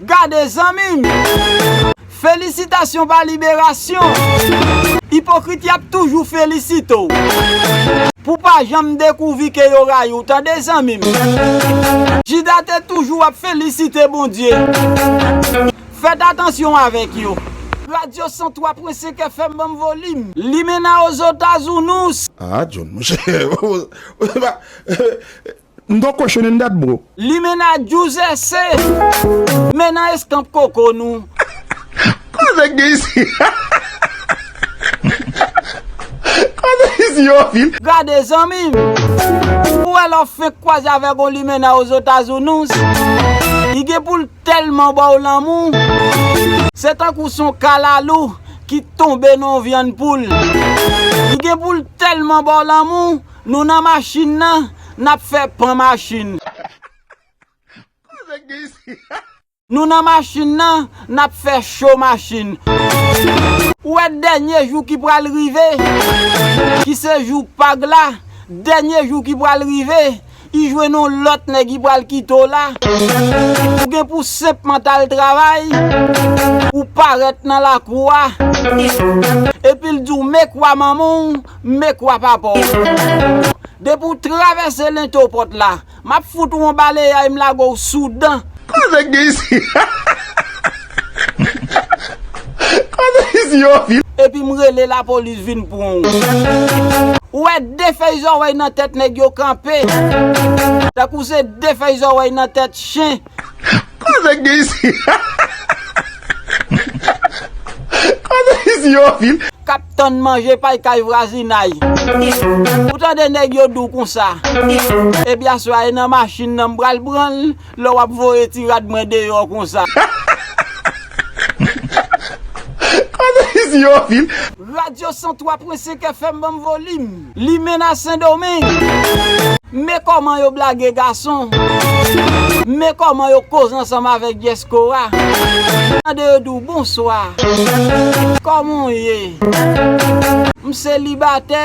Gade zanmim! Felisitasyon pa liberasyon! Ipokrit yap toujou felisite w pou pa janm dekouvri ke yo rayi w tande zanmim! Jida te toujou ap felisite Bondye! Fèt atansyon avèk yo! Radio 103 pwen 5 FM banm volim. Limena ozotazounous. Ah John monchè ou se pa. M gon cochon in that bro. Limena Djouzè se Men nan eskanp koko nou. Koze k gen isi Koze isi yo anpil. Gade zanmim! Ou wè lè w fenk kwaze avèk on limena ozotazounous, li gen pou l tèlman ba w lanmou, se tankou s on kalalou ki tonbe nan on vyann poul. Li gen pou l tèlman ba w lanmou, Nou nan machin nan nap fè pan machin. Nou nan machin nan nap fè cho machin. Ou wè dènye jou ki pral rive, ki se jou pag la, dènye jou ki pral rive, i jwenn yon lòt nèg i pral kite w la, ou gen pou senpman t al travay, ou parèt nan lakou a, epi l di w me kwa manman w. Mme kwa papa w bon non. Depi w travèse lento pòt la, m ap fout ou on baleyay m lage w sou dan. Koze k gen isi Koze isi yo fi. Epi m rele lapolis vin pran w. Ou wè de fèy zòrèy nan tèt nèg yo kanpe. Tankou se de fèy zòrèy nan tèt chen. Koze gen isi Koze isi yo anpil. Kap tann manje pay kay vwazinay. Ou tande nèg yo dou konsa. Epi aswè a e nan machin nan m pral pran l lè w ap voye ti rad mwen deyò konsa. Koze isi yo anpil. Radio 103 pwen 5 FM banm volim. Limena sendomeng me koman yo blage gason me koman yo koz ansanm avek dyeskora tande yo diw bonswa koman w ye m selibatè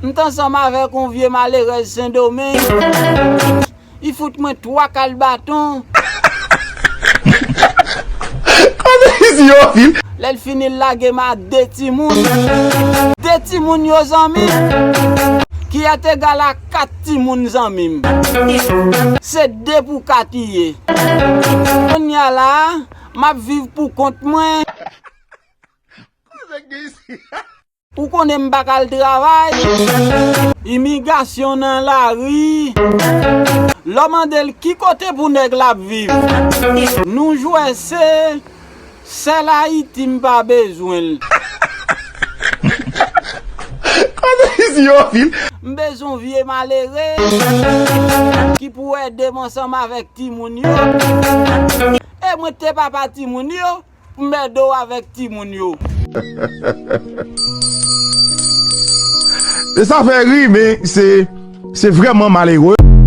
m t ansanm avek yon vye malerèz sendomeng Li fout mwen 3 kal baton. Lè l fini l lage m a 2 timoun. 2 timoun yo zanmi. Ki at egal a 4 timoun zanmi m. Se 2 pou 4 li ye. Kounya la a, m ap viv pou kont mwen. Ou konnen m pa ka al travay. Imigasyon nan lari. Lè w mande l ki kote pou nèg la ap viv. Nou jwè se sèl Ayiti m pa bezwen l. M bezwen vye malere. Ki pou ede m ansanm avèk timoun yo. E mwen te papa timoun yo. M merde w avek timoun yo. Sa fè ri men se vreman malere.